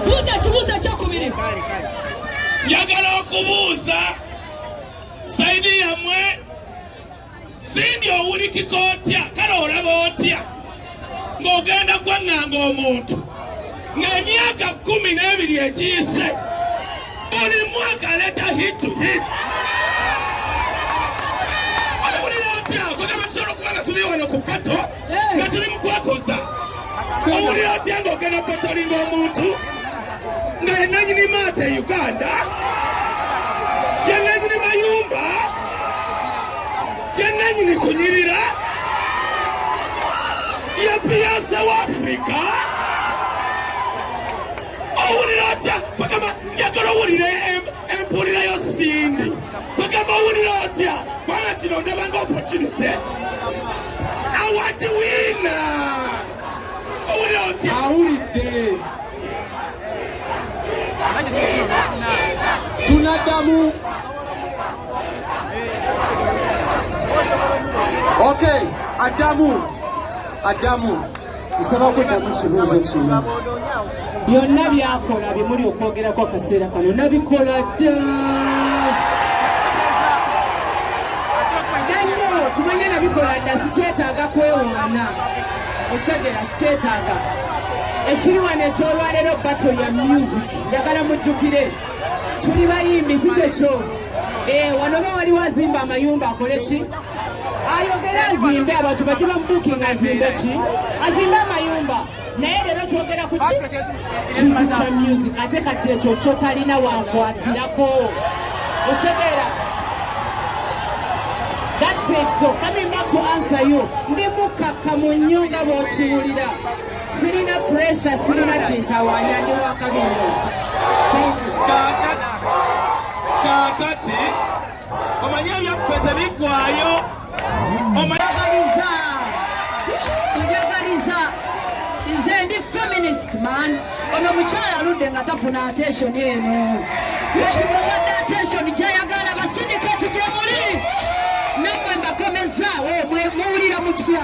buuza ekibuuzo ekyokubiri njagala okubuuza saidi yammwe sindi owulikika otya kale olaba otya ng'ogenda kwaŋŋanga omuntu ng'emyaka kkumi n'ebiri egiyise buli mwaka aleeta hitu hitu owulira otya kugamba tusobola okuba nga tuli wano ku bato nga tuli mu kwekoza owuli otya nga ogenda petolinga omuntu nga yenanyini maata e uganda yenanyini mayumba yenanyini kunyirira yepiyase wa afurika owulira otya bagamba njagala owulira empulira yo sindi bagamba owulira otya kubanga kino ndabanga opportunity awulidde tunaddamu okay addamu addamu nsaba kuddamu kibuuzo kino byonna byakola byemuli okwogerako akaseera kano nabikola dda nanyo kumanya nabikola dda sikyetaaga kwewaana oshagera sikyetaaga ekiri wano ekyolwaleero bato ya music njagala mujjukire tuli bayimbi si kyekyo eh, wano oba waliwo azimba amayumba akole ki ayogere azimbe abantu bajje bamubukinga azimbe ki azimbe amayumba naye leero kyogera ku ki kintu kya music ate kati ekyo kyotalina wankwatirako osegeera That's it. So coming back to answer you, ndi mukakkamu nnyo nga bw'okiwulira. Sirina pressure, sirina kintawaanya, ndi wakabi nnyo. Thank you. Kakati. omanyi ebyaffe tebiggwayo njagaliza njagaliza nze ndi feminist man ono mukyala aludde nga tafuna attention eno katimuwadde attention gyayagala basindikati gyemuli namwe mbakomezaawo muwulira mutya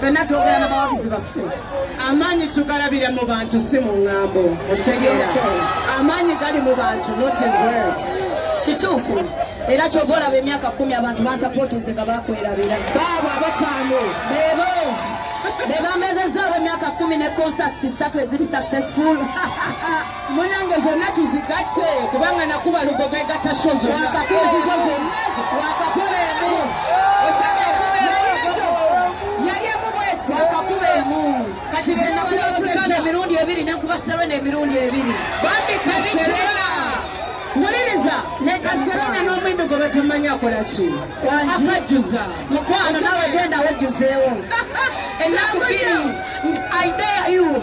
fenna twogera na bawagizi baffe amaanyi tugalabira mu bantu si mu ŋŋambo otegeera amaanyi gali mu bantu not in words kituufu era kyova olaba emyaka kumi abantu bansapootinze nga bakwerabira baabo abataano bebo bebamezezaawo emyaka kumi ne konsasi satu eziri successful munange zonna tuzigatte kubanga nakuba lugogo egatta sho zonnaakakuzizozonaakakubeemu yali emu bweti akakubeemu kati zenakubaukana emirundi ebiri nenkuba serena emirundi ebiri bambikaserena wuliriza nekaserena n'omwimbi gwe batamanya akola ki akajjuza mukwano nawe genda wejjuzeewo ennaku bbiri idea you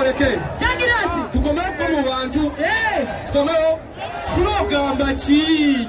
tubaleke tukomewo ko mu bantu tukomewo fula ogamba ki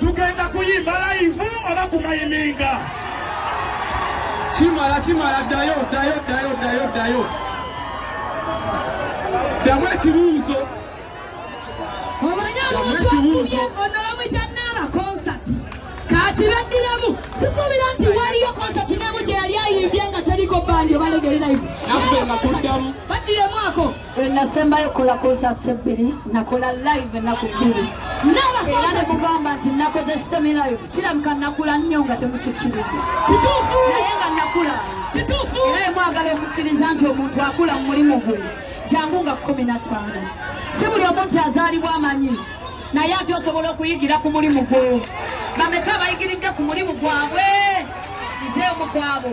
tugenda kuyimba layivu oba kumayiminga kimala kimala ddayo ddayo ddayo ddayo ddayo ddamu ekibuuzo omanyi omuntu akubye onowamwita naaba konsati kakibaddiremu sisuubira nti waliyo konsati nemu gye yali ayimbye nga teriko bandi obalegere layivu naffe nga tuddamu baddiremu ako lwenasembayo kukola konsats ebbiri nakola live ennaku bbiri era nemugamba nti nakoze semilayo kirabika nakula nnyo nga temukikkiriza naye nga nakula era emwagala okukkiriza nti omuntu akula mu mulimu gwe jangu nga kumi na ttaano si buli omu nti azaalibwa amanyi naye ati osobola okuyigira ku mulimu gwo bameka abayigiridde ku mulimu gwabwe nze omukwabo